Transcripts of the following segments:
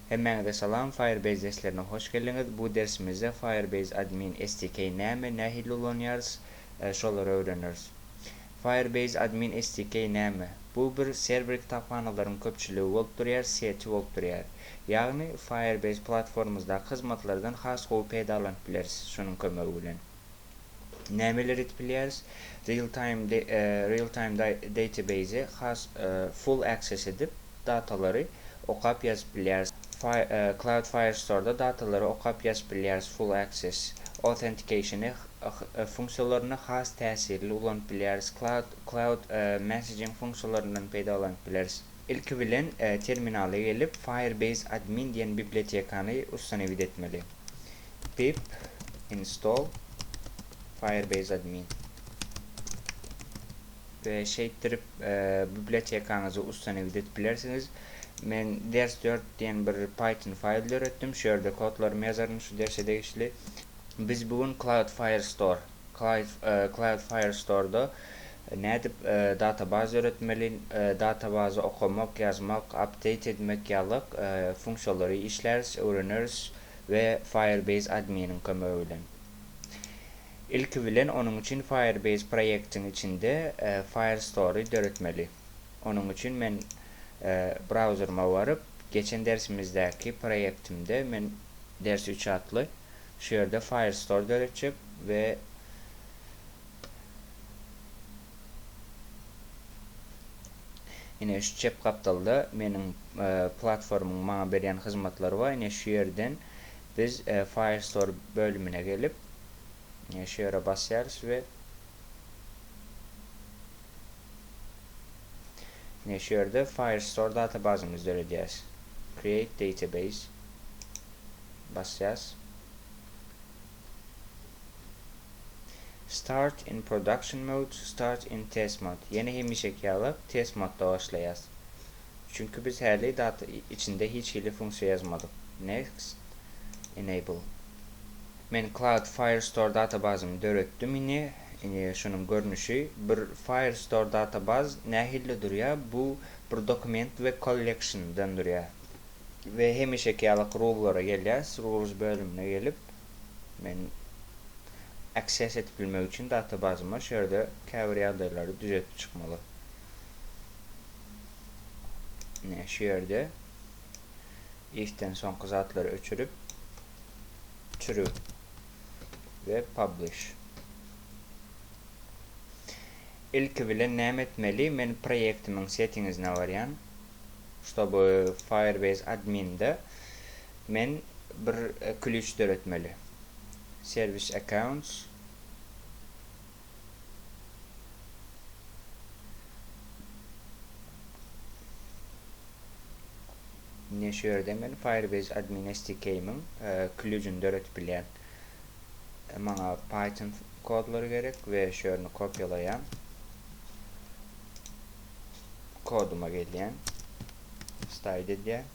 Hemmäňize salam, Firebase derslerine hoş geldiňiz. Bu dersimizde Firebase Admin SDK näme, nähili ulanýarys, şolary öwreneris. Firebase Admin SDK näme? Bu bir serwer kitaphanalaryň köpçüligi bolup durýar, seti bolup durýar. Ýagny Firebase platformamyzdaky hyzmatlardan has gowy peýdalanyp bileris şonuň kömegi bilen. nämeler edip bilýäris? Real time real time database has full access edip datalary okap ýazyp bilýäris. Cloud Firestore-da datalary okap ýazyp bilýäris full access authentication funksiýalaryny has täsirli ulanyp bilýäris cloud cloud messaging funksiýalaryndan peýdalanyp bileris. Ilki bilen terminala gelip Firebase admin diýen bibliotekany ustanowit etmeli. pip install firebase admin we şeýtdirip bibliotekaňyzy ustanowit edip bilersiňiz. Men ders 4 diýen bir Python faýl döretdim. Şu ýerde kodlarymy ýazaryn şu derse degişli. Biz bu gün Cloudflare Store Cloudflare Store-da nädip databaz döretmeli, databazy okamak, ýazmak, update edmek ýaly funksiýalary işläris, öwreneris. we Firebase adminiň kömegi bilen. Ilki bilen onuň üçin Firebase proýektiň içinde Firestore-y döretmeli. Onuň üçin men brauzeryma baryp, geçen dersimizdäki proýektimde men ders üç atly şu ýerde Firestore döretjek we Ine şu çep gapdalda meniň platformyň maňa berýän hyzmatlary bar. Ine şu ýerden biz Firestore bölümine gelip, ine şu ýere basýarys we ine şu ýerde Firestore databazymyzy döredýäris. Create database basýas. Start in production mode Start in test mode Ýene hemişeki ýaly test modda başlaýas. Çünki biz häli data içinde hiç hili funksiýa ýazmadyk. Next Enable Men Cloud Firestore databazyny döretdim ini. Ini şunuň görnüşi. Bir Firestore databaz nähilli durýar? Bu bir dokument we collection dan durýar. We hemişeki ýalyk rullara gelýäs. Rules bölümine gelip. Men access edip bilmek üçin data bazyma şu ýerde käbir ýagdaýlary düzetip çykmaly. Ne şu ýerde ifden soňky zatlary öçürip true we publish. Ilki bilen näme etmeli? Men proýektimiň settingizine barýan. Ştoby Firebase adminde Men bir klýuç döretmeli. Service accounts. Ine şu ýerde men Firebase Admin SDK-iň klýuçyny döretip bilýän. Maňa Python kodlary gerek we şu ýerini kopýalaýan. Koduma gelýän. Style edýän.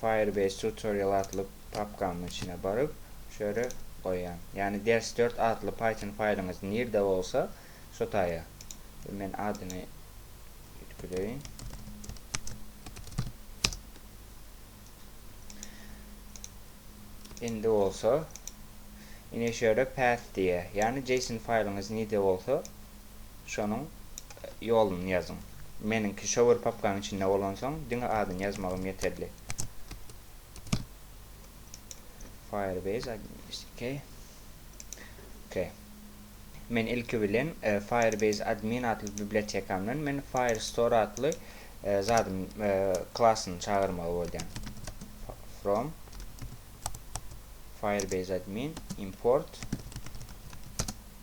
Firebase Tutorial atly papkamyň içine baryp, şu ýere goýýan. Ýagny ders dört atly Python faýlyňyz nirde bolsa, şo taýa. Men adyny üýtgedeýin. Indi bolsa, ine şu ýere path diýýär. Ýagny JSON faýlyňyz nirde bolsa, şonuň ýoluny ýazyň. Meniňki şower papkaň içinde bolansoň diňe adyny ýazmagym ýeterli. Firebase admin SDK. Ok. Men ilki bilen e, Firebase admin atly bibliotekamdan men Firestore atly e, zadym e, klasyny çagyrmaly bolýan. From Firebase admin import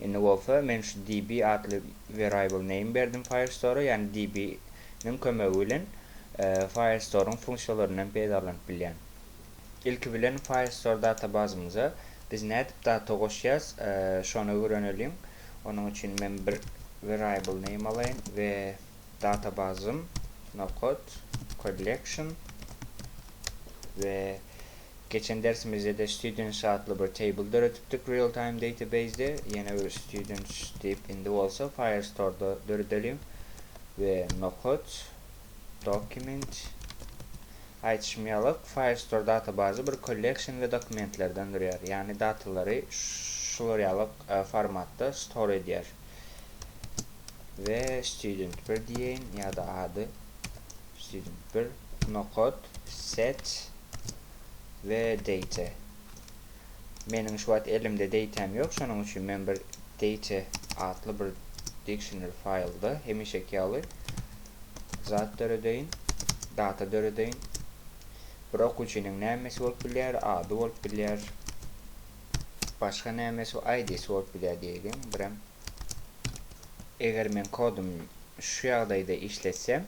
Indi bolsa men şu DB atly variable name berdim Firestore-a, ýagny DB niň kömegi bilen Firestore-yň funksiýalaryndan peýdalanyp bilýän. Ilki bilen Firestore databazymyza biz nädip data goşýas, şony öwreneliň. Onuň üçin men bir variable name alaýyn we databazym nokod collection we Geçen dersimizde-de Students atly bir table döredipdik Realtime Database-de. Ýene bir Students diýip indi bolsa Firestore-da döredeliň we Nokat, Document. Aýdyşym ýalyk, Firestore databazy bir Collection we Dokumentlerden durýar. Ýagny datalary şular ýalyk formatda store edýär. We Student bir diýeýin ýa-da ady Student bir, Nokat, Set. we date. Meniň şu wagt elimde date-äm ýok, şonuň üçin men bir date atly bir dictionary faýlda hemişeki ýaly zat döredeýin, data döredeýin. Bir okuwçynyň nämesi bolup bilýär, ady bolup bilýär, başga nämesi, ID-si bolup bilýär diýeýliň, birem. Eger men kodumy şu ýagdaýda işletsem,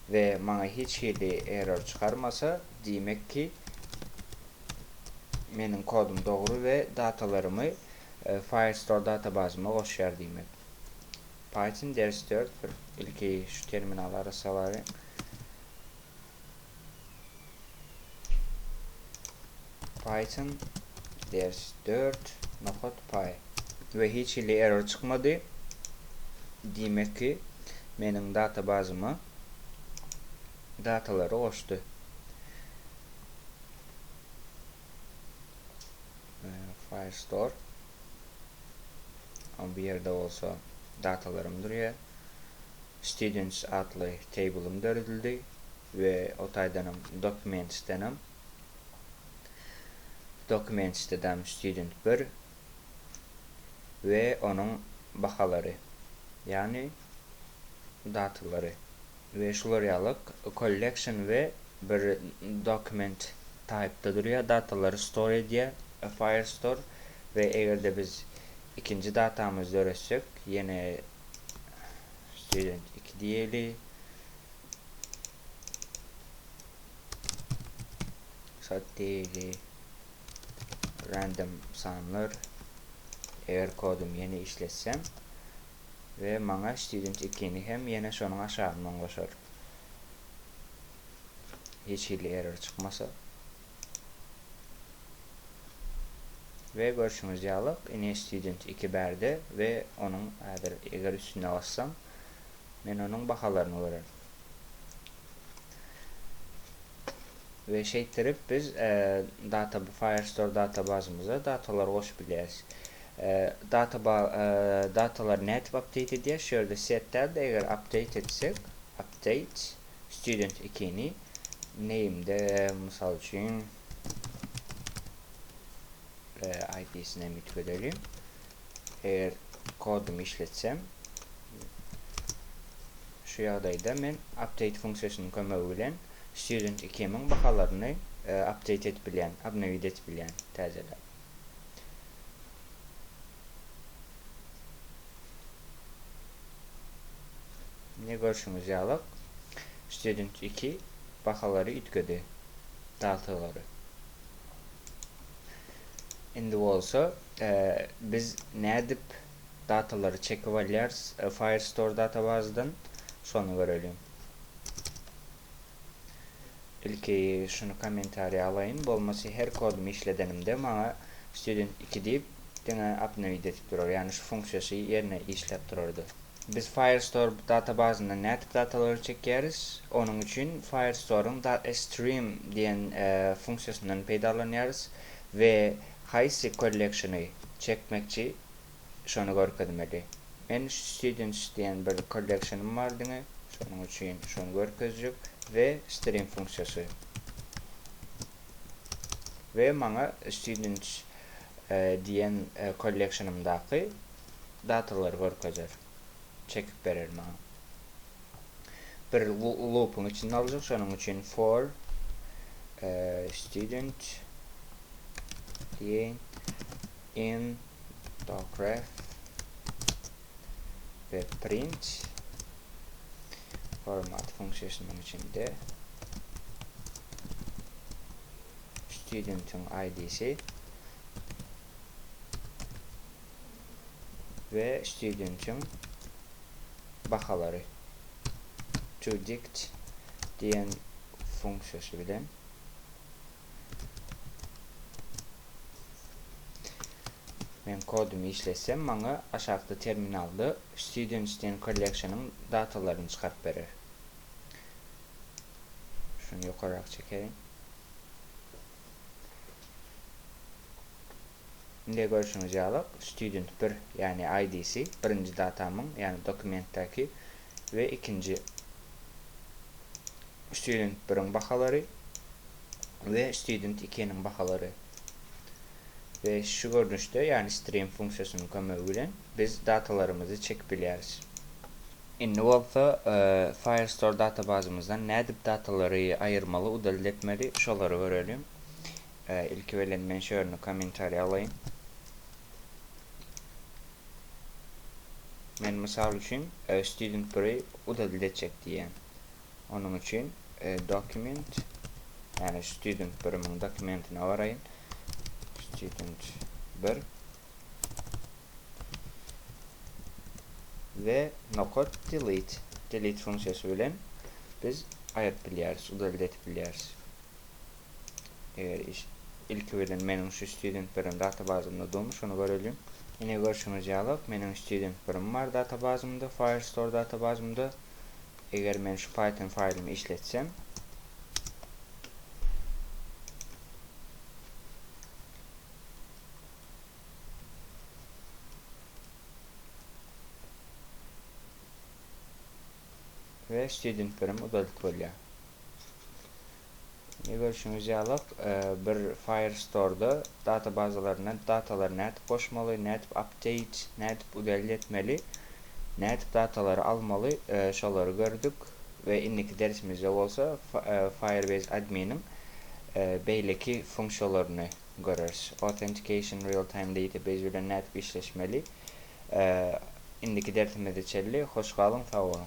we maňa hiç hili error çykarmasa, diýmek ki, meniň kodum dogry we datalarymy Firestore databazyma goşýar diýmek. Python ders dört bir ilki şu terminaly arassalary. Python ders dört nokat pay. We hiç hili error çykmady. Diýmek ki, meniň databazyma datalary goşdy. Firestore. Ama bu ýerde bolsa datalarym durýar. Students atly tablem döredildi we o taýdanam Documents'denem. Documents'dedam student bir we onuň bahalary, ýagny datalary we şular ýaly collection we bir document type'da durýar, datalary store edýär, Firestore we eger-de biz ikinji datamyzy döretsek, ýene student 2 diýeli. Sat diýeli. Random sanlar. Eger kodum ýene işletsem we maňa student 2-ni hem ýene şonuň aşagyndan goşar. Hiç hili error çykmasa. We görşüňiz ýalyk ine student iki bärde we onuň häzir eger üstüne bassam men onuň bahalaryny görerin. we şeýtdirip biz e, data Firestore databazymyza datalary goşup bilýäris. E, data e, datalar nädip update edýär? Şu ýerde set däl eger update etsek, update Student ikini name-de mysal üçin IP-sini hem üýtgedelim. Eger kodumy işletsem, şu ýagdaýda men update funksiýasynyň kömegi bilen student ikimiň bahalaryny update edip bilýän, obnowit edip bilýän, täzeläp. Ne görşüňiz ýalak student iki bahalary üýtgedi daltalary. Indi bolsa e, biz nädip datalary çekip alýarys Firestore databazydan. Şony göreliň. Ilki şuny kommentariýa alaýyn. Bolmasy her kodumy işledenimde maňa student iki diýip diňe obnowid edip durar. Ýagny şu funksiýasy ýerine işläp turardy. Biz Firestore databazyndan nädip datalary çekýäris? Onuň üçin Firestoreň datstream diýen funksiýasyndan peýdalanýarys we Haýsy kollekşini çekmekçi şony görkezmeli. Men students diýen bir kollekşinim bar diňe şonuň üçin şony görkezjek we stream funksiýasy we maňa students diýen kollekşinimdaky datalary görkezer. çekip berer maňa. Bir loopyň içinde aljak şonuň üçin for student diýen in docref we print format funksiýasynyň içinde studentiň ID-si we studentiň bahalary toDict diýen funksiýasy bilen men kodumy işletsem maňa aşakda terminalda students diýen kolleksiýanyň datalaryny çykaryp berer. Şuny ýokaryrak çekeýin. Indi görşüňiz ýaly, student bir, ýagny IDC, birinji datamyň, ýagny dokumentdäki we ikinji student biriň bahalary we student ikiniň bahalary. We şu görnüşde, ýagny stream funksiýasynyň kömegi bilen biz datalarymyzy çekip bilýäris. Indi bolsa Firestore databazymyzdan nädip datalary aýyrmaly, udalit etmeli, şolary görelim. Ilki bilen men şörüni kommentariýa alaýyn. Men mysal üçin student biri udadylt etjek diýýän. Onuň üçin dokument ýagny student birimiň dokumentine baraýyn. Student bir we nokat delete delete funksiýasy bilen biz aýryp bilýäris, udadylt edip bilýäris. Eger iş ilki bilen meniň şu student birim databazymda durmy şony göreliň. Ine görşüňiz ýalak meniň student birim bar databazymda Firestore databazymda. Eger men şu Python faýlymy işletsem we student birim uzadyt bolýar. Ne görüşüňiz ýalak, e, bir Firestore-da databazalaryna datalary nädip goşmaly, nädip update, nädip udalit etmeli, nädip datalary almaly, e, şolary gördük we indiki dersimizde bolsa e, Firebase adminiň e, beýleki funksiýalaryny göreris. Authentication real-time database bilen nädip işleşmeli, Indiki dersimize çenli hoş galyň sag boluň.